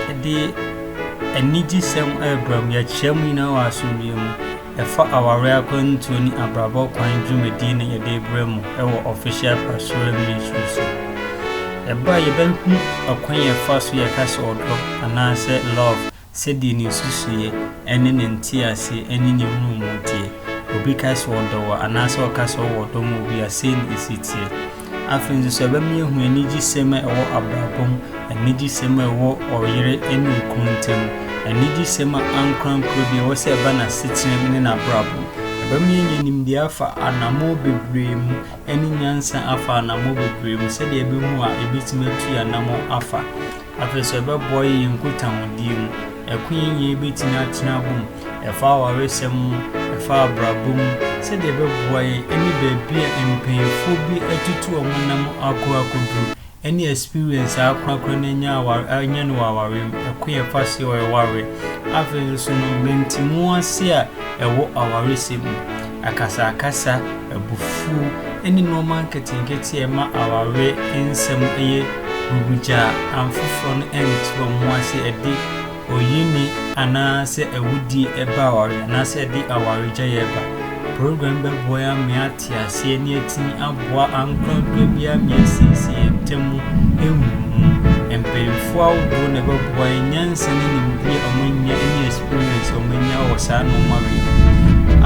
Yɛde anigyesɛm rebra mu, yɛkyerɛ mu nyinaa wɔ asomdwoe mu. Ɛfa aware akwantuo ne abrabɔ kwan dwumadie na yɛde brɛ mu wɔ official pastoral ministry so. Ɛba a yɛbɛhu ɔkwan yɛfa so yɛka sɛ ɔdɔ anaasɛ love sɛdeɛ ne nsusuiɛ ne ne nteaseɛ ne ne nhunumu teɛ. Obi ka sɛ ɔdɔ wo anaasɛ ɔka sɛ ɔwɔ ɔdɔ ma obi a, sei na ɛsi teɛ. Afei nso sɛ ɛbɛma yɛahu anigyesɛm a ɛwɔ abrabɔ mu, anigyesɛm a ɛwɔ ɔyere ne okunu ntam, anigyesɛm a ankorankoro bi ɛwɔ sɛ ɛba n'asetena mu ne n'abrabɔ mu. Ɛbɛma yɛanya nimdeɛ afa anammɔn bebree mu ne nyansa afa anammɔn bebree mu sɛdeɛ ɛbɛhu a yɛbɛtumi atu yɛn anammɔn afa. Afei nso, ɛbɛboa yɛn nkutahodie mu. Ɛko yɛn nyinaa yɛbɛtumi atena abom. Ɛfa awaresɛm mu, ɛfa abrabɔ mu, sɛdeɛ ɛbɛboa yɛn ɛne baabi a mpaninfoɔ bi atutu wɔn nam akɔ akɔduru ɛne experience a akorakora no anya aware anya no wɔ awareɛ mu. Ɛko yɛn fa seɛ wɔ ɛwareɛ. Afei nso no, mantimu ase a ɛwɔ awaresɛm mu. Akasakasa, abufuw, ne nneɛma nketenkete a ɛma aware nsɛm yɛ hurugya a afoforo no nte wɔn ho ase, ɛde oyini anaasɛ awudi ba aware anaasɛ ɛde awaregyae ba. Program yi bɛboa yɛn ama yɛate ase ne yɛatumi boa ankorankura biara ma yɛasiesie yɛn ntam mu ahu no mu. Mpanyimfo ahodoɔ na ɛbɛboa yɛn, nyansa ne nimdeɛ a wɔanya ne experience a wɔanya wɔ saa nneɛma wei ho.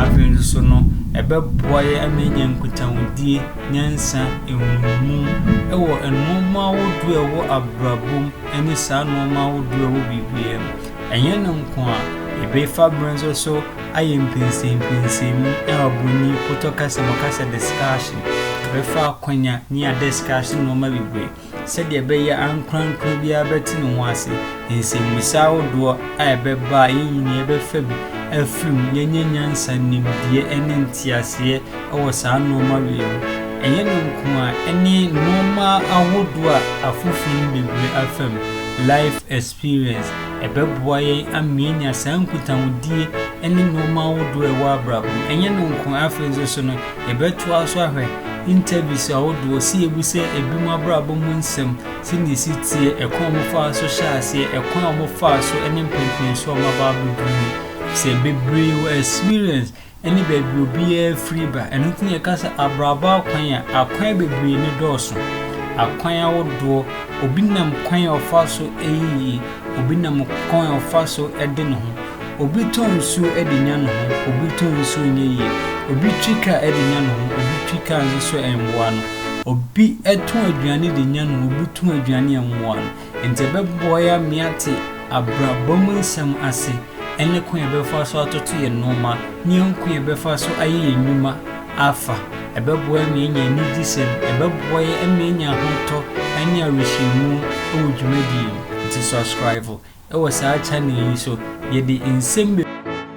Afei nso so no, ɛbɛboa yɛn ama yɛanya nkutahodie, nyansa, nhunumu wɔ nneɛma ahodoɔ a ɛwɔ abrabɔ mu ne saa nneɛma ahodoɔ a ɛwɔ biribiara mu. Ɛnyɛ no nko a, yɛbɛfa berɛ nso so ayɛ mpɛnsɛmpɛnsɛn mu a oburoni potɔ ka sɛ wɔka sɛ discussion, bɛfa akwanya ne adiscussion nnoɔma bebree sɛdeɛ ɛbɛyɛ a ankorankoro biara bɛte ne ho ase, nsɛmmisa ahodoɔ a ɛbɛba a yɛn nyinaa yɛbɛfa bi afiri mu, yɛanya nyansa, nimdeɛ ne nteaseɛ wɔ saa nnoɔma wei ho. Ɛnyɛ no nko a, ɛne nnoɔma ahodoɔ a afoforɔ no bebree afa mu, life experience. Experience, ɛbɛboa yɛn ama yɛanya saa nkutahodie ne nnoɔma ahodoɔ a ɛwɔ abrabɔ mu. Ɛnyɛ no nko, afei nso so no, yɛbɛtoa so ahwɛ interviews ahodoɔ sɛ yɛbisa ebinom abrabɔ mu nsɛm, sɛdeɛ ɛsi teɛ, ɛkwan a wɔfaa so hyɛɛ aseɛ, ɛkwan a wɔfaa so ne mpɛnpɛnsoɔ a wɔaba abɛduru mu. Sɛ bebree wɔ experience, ne baabi obiara firi ba. Ɛno nti na yɛka sɛ abrabɔ akwan a akwan bebree ne dɔɔso, akwan ahodoɔ, obi nam kwan a ɔfa so yɛ yie, obi nam kwan a ɔfa so de ne ho, obi tɔ nsuo de nya ne ho, obi tɔ nsuo nyɛ yie, obi twi kaa de nya ne ho, obi twi kaa nso so ɛmmoa no, obi tɔn aduane de nya ne ho, obi tɔn aduane a ɛmmoa no. Enti ɛbɛboa yɛn ama yɛate abrabɔ mu nsɛm ase ne kwan a yɛbɛfa so atoto yɛn nneɛma ne yɛn kwan a yɛbɛfa so ayɛ yɛn nnwuma afa. Ɛbɛboa yɛn ama yɛanya anigye sɛn? Ɛbɛboa yɛn ama yɛanya ahotɔ ne awerɛhyɛmu wɔ dwumadie mu. Enti subscribe wɔ saa channel yi so. Yɛde nsɛm.